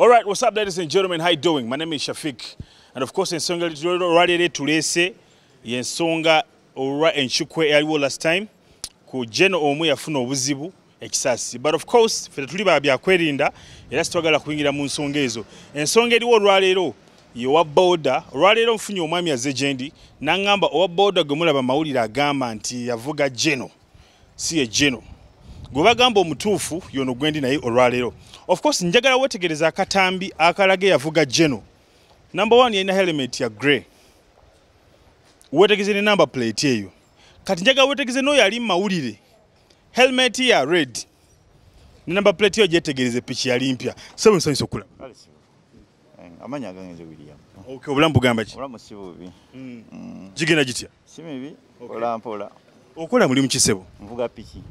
All right, what's up ladies and gentlemen, how you doing? My name is Shafiq. And of course, ensonga lwalere tulese yensonga olwa enkyukwe eyaliwo last time ku jeno omu yafuna obuzibu ekisasi but of course ffe tetuli ba byakwerinda era sitwagala kuyingira mu nsonga ezo ensonga eriwo olwaleero yewa boda olwaleero nfunye omwami azze gyendi naŋŋamba owa boda gwe mulaba mawulire agamba nti yavuga jeno si ye geno gwe bagamba omutuufu yono gwendi naye olwaleero of course njagala wetegereza akatambi akalaga eyavuga geno number one yalina helmet ya grey wetegeze ne number plate eyo kati njagala wetegeze noyo ali mu mawulire helmet ya red ne number plate eyo gyetegereze piki yali mpya sebo nsanyusa okulaba Eh, amanya agange nze william okay obulamu bugamba ki obulamu si bubi mm. mm. gigenda gitya si mibi okay. ola mpola okola mulimu kisebo nvuga piki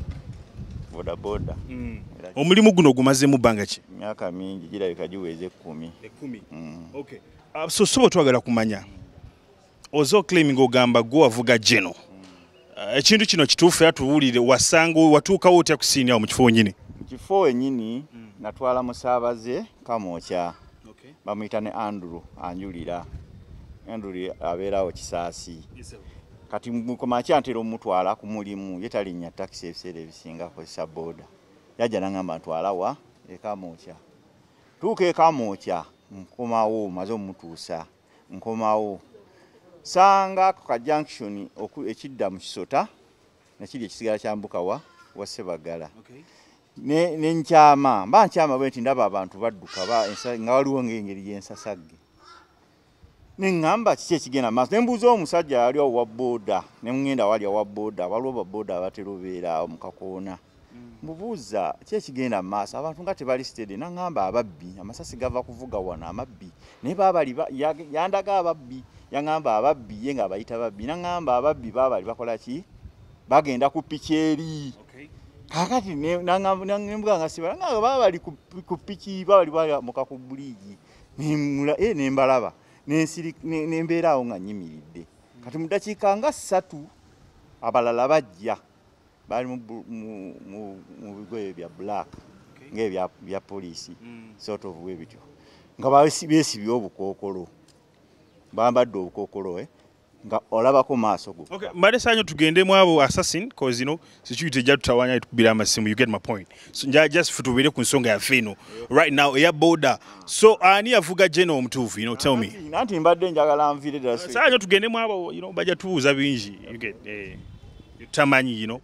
bodaboda mm. omulimu guno ogumazemu bbanga ki myaka mingi girabika giweza ekkumi ekkumi mm. okay. uh, so soba twagala kumanya mm. ozo claiming ogamba gwo wavuga jeno eh, ekintu kino kituufu era tuwulire wasanga watuukawo otya kusiini awo mu kifo wenyini mu kifo wenyini mm. natwala musaabaze kamwokya okay. bamuyita ne andrew anjulira andrew abeerawo kisaasi kati mukomakyi antera omutwala ku mulimu ye talinnya takisi ebiseera ebisinga akozesa booda yajja nangamba ntwala wa ekamwokya tuuka ekamwokya nkomawo maze omutuusa nkomawo sanga ku ka junction ekidda mu kisota nakiri ekisigala kya mbukawa wa sebagala okay. nenkyama mba nkyama bwe nti ndaba abantu badduka nga waliwo ngaengeri yensasagge neŋŋamba kiki ekigenda maaso nembuuza omusajja yali owa booda nemugenda wali owa booda waliwo babooda abatera obeera mu kakoona mbubuuza ki ekigenda mu maaso abantu nga tebali stede naŋamba ababbi amasasi gava kuvuga wano amabbi naye babali yandaga ababbi yaŋamba ababbi ye nga abayita babbi naŋamba ababbi babali bakola ki bagenda ku piki eri kakati nembuga nga sibala nga babali ku piki babali bamuka ku buliigi eh, nembalaba nembeera awo nga nyimiridde kati mu dakiika nga ssatu abalala bajja baali mu bigoye bya black ngaebya poliisi mm. sort of we bityo nga besibye obukookolo bambadde obukookolo eh? nga olabako maaso go mbade sanyo tugendemu abo assassin cause you know security ejja tutawanya tukubira amasimu you get my point just futubeere ku nsonga yaffe eno right now eya boda so ani yavuga jena omutuufu you know tell me nanti mbadde njagala nviire ddala saa nyo tugendemu abo you know bajja tubuuza bingi eh, tamanyi you know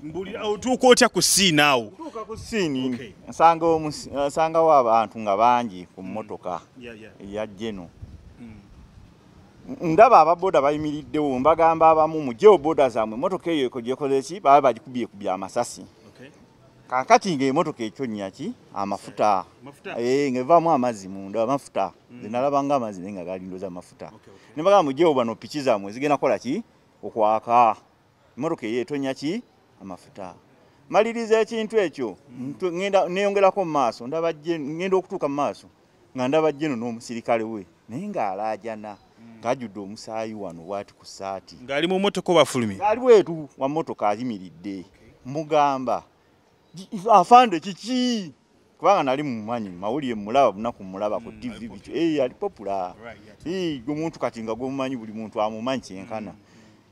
mbulira otuuka otya ku siini awo otuuka ku siini nsangawo abantu nga bangi ku mmotoka eya jeno ndaba ababoda bayimiriddewo mbagamba abamu mujewo boda zaamwe emotoka eyo ekojekoleki baba bagikubye kubya amasasi kakati nga emotoka ekyonnya ki amafuta eh, nga evaamu amazzi munda amafuta mm. zenalaba nga amazzi naye nga galindoza amafuta ne bagamba mujewo bano piki zaamwe zigenda kukola ki okwaka emotoka eyo etonya ki amafuta maliriza ekintu ekyo mm. neyongerako mu maaso ndaba ngenda okutuuka mu maaso nga ndaba jeno n'omusirikale we naye ng'alaajana hmm. ng'ajjudde omusaayi wano bwati ku saati ng'ali mu motoka obafulumi ali wetu wa motoka ayimiridde mugamba afande kiki kubanga nali mumanyi mawulire mulaba bunaku mulaba ku hmm, tv biki eh, ali popula gwe muntu kati nga gwemumanyi buli muntu amumanyi kyenkana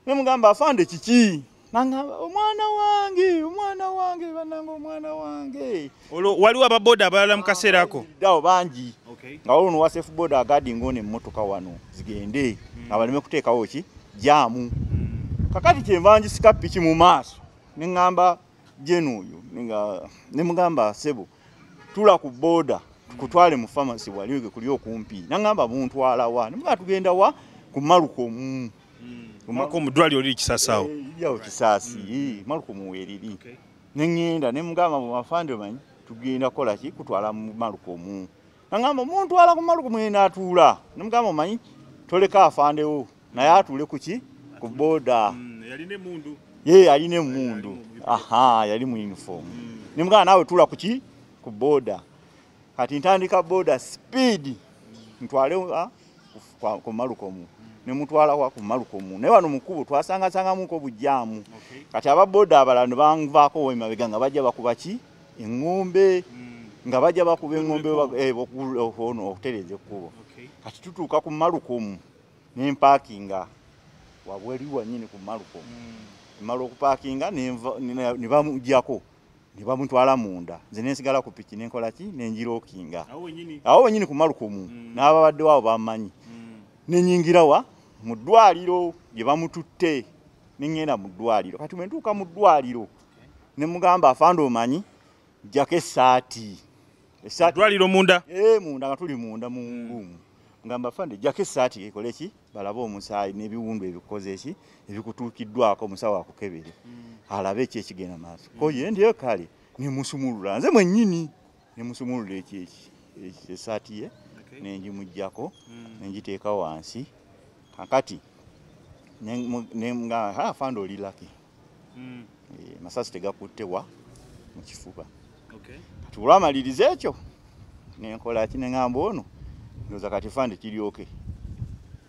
ne mugamba afande kiki nangamba omwana wange omwana wange bananga omwana wange olwo waliwo ababoda abalala mu kaseera ako dawo bangi nga waliwo nowa safe boda agadi ngaona emmotoka wano zigende hmm. nga baleme kuteekawo ki jaamu hmm. kakati kyenvanjisika piki mu maaso ne ŋŋamba jeni oyo ne mugamba sebo tula ku boda kutwale mu famasi wali kuli okumpi nangamba buntwala wa ne muga tugenda wa ku maluko mu mm. Malcolm dwali oli kisasao. Eh, Yawo kisasi. Mm. Eh, Malcolm weriri. Okay. Nengenda ne mugamba mu mafande manyi tugenda kola ki kutwala mu Malcolm. Nangamba omuntu ala ku Malcolm yena atula. Ne mugamba manyi toleka afande wo. Na ya atule ku ki ku boda. Mm, yali ne mundu. Ye yali ne mundu. Aha, yali mu uniform. Mm. Ne mugamba nawe tula ku ki ku boda. kati ntandika boda speed ntwale ah, ku malukomu nemutwalawa ku malukomu naye wano mukubo twasangasangamuko bujjaamu kati aba boda abalala ne banvaako wemabega nga bajja bakuba ki eŋŋombe hmm. nga bajja bakuba eŋŋombe eh, ono okutereeza ekkubo kati tutuuka ku malukomu nempakinga wabweri wanyini ku malukomu hmm. mala okupakinga nebamujjako ne bamutwala munda nze nensigala ku piki nenkola ki nenjirokinga awo wenyini ku malukumu mm. n'ababadde waabo bamanyi mm. nenyingira wa mu ddwaliro gye bamututte neŋŋenda mu ddwaliro kati bwe ntuuka mu ddwaliro ne mugamba afande omanyi jjako essaati eddwaliro munda ee eh, munda nga tuli munda mu nguumu nga mbafande jako esaati ekole ki balabe omusaayi n'ebiwundu ebikoze ki ebikutuukiddwako omusawo akukebere mm. alabe eki ekigenda maaso mm. koye ndiyo kale nemusumulula nze mwennyini nemusumulula eki esaati ye nengimugjako mm. nengiteeka wansi kakati nga afande oli laki mm. e, masasi tegakutte wa mu kifuba okay. kati olwamaliriza ekyo nenkola ki neŋamba ono ndoza kati fande kiryoke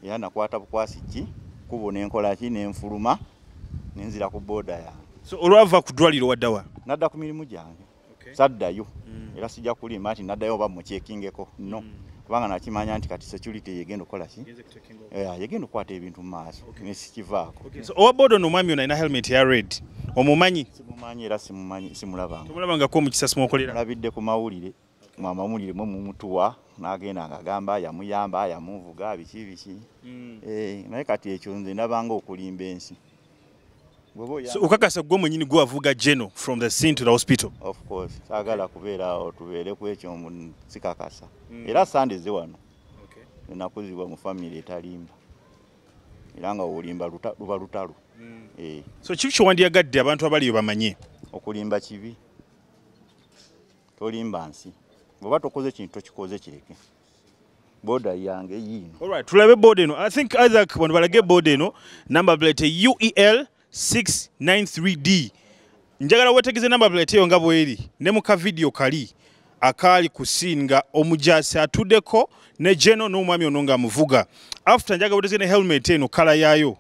era nakwata bukwasi ki kubo nenkola ki nenfuluma nenzira ku boda yange so olwava ku ddwaliro waddawa nadda ku mirimu gyange saddayo mm. era sijja kulimba nti naddayo oba mukyekingeko no mm. kubanga nakimanya nti kati security yegenda okukola ki eh, yegenda okukwata ebintu mu maaso nesikivaako owa bodo no omwami onalina helmet ya red omumanyi simumanyi era simumanyi simulabangako omukisa simuokolera olabidde ku mawulire mwamawulire mwe mumutuwa nagenda nga agamba yamuyamba yamuvuga biki biki mm. eh, naye kati ekyo nze nabanga okulimba ensi So, ukakasa gwe mwenyini gwe wavuga geno from the scene to the hospital of course sagala kubeera awo tubeere ku ekyo sikakasa mm. era sande ze wano okay. enakuzibwa mu famiry etalimba era nga olimba luba lutalo mm. eh. so kibi kyowandiyagadde abantu abaliyo bamanye okulimba kibi tolimba nsi bweba tokoze ekintu tokikoze kireke boda yange yiino alright tulabe boda eno i think isaac wano balage boda eno number plate uel 693d njagala wetegeze number plate eyo nga bweri ne mu ka video kali akaali ku scene nga omujaasi atudeko ne geno n'omwami ono nga amuvuga after njagala wetegeze ne helmet eno kala yaayo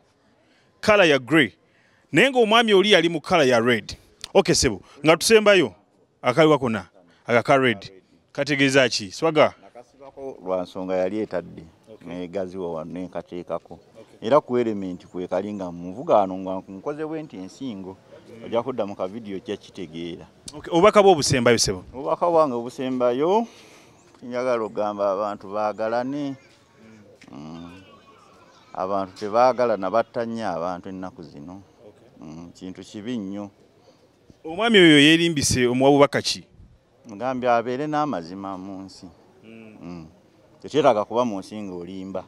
kala ya grey naye ngaomwami oli yali mu kala ya red ok sebo nga tusembayo akaliwa kona agaka red kategeeza ki swaga lwansonga yali etadde negaziwa wano nenkateekako era ku elementi kwekali nga munvugaano nga nkoze bwe nti ensingo ojja kudda mu kavidiyo ojja kitegeera obubaka bwe obusembayo sebo obubaka bwange obusembayo njagala okugamba abantu baagalane mm. abantu tebaagala nabatta nnyo abantu ennaku zino mm, kintu kibi nnyo omwami oyo yeerimbise omuwa bubaka ki mugambi abeere n'amazima mu nsi mm. tekyetaaga kuba mu nsi ng'olimba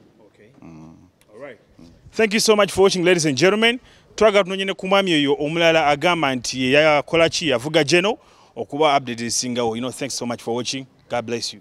thank you so much for watching ladies and gentlemen twagala tunonye ne ku mwami oyo omulala agamba nti yeyakola ki yavuga geno okuba update ezisingawo you know thanks so much for watching god bless you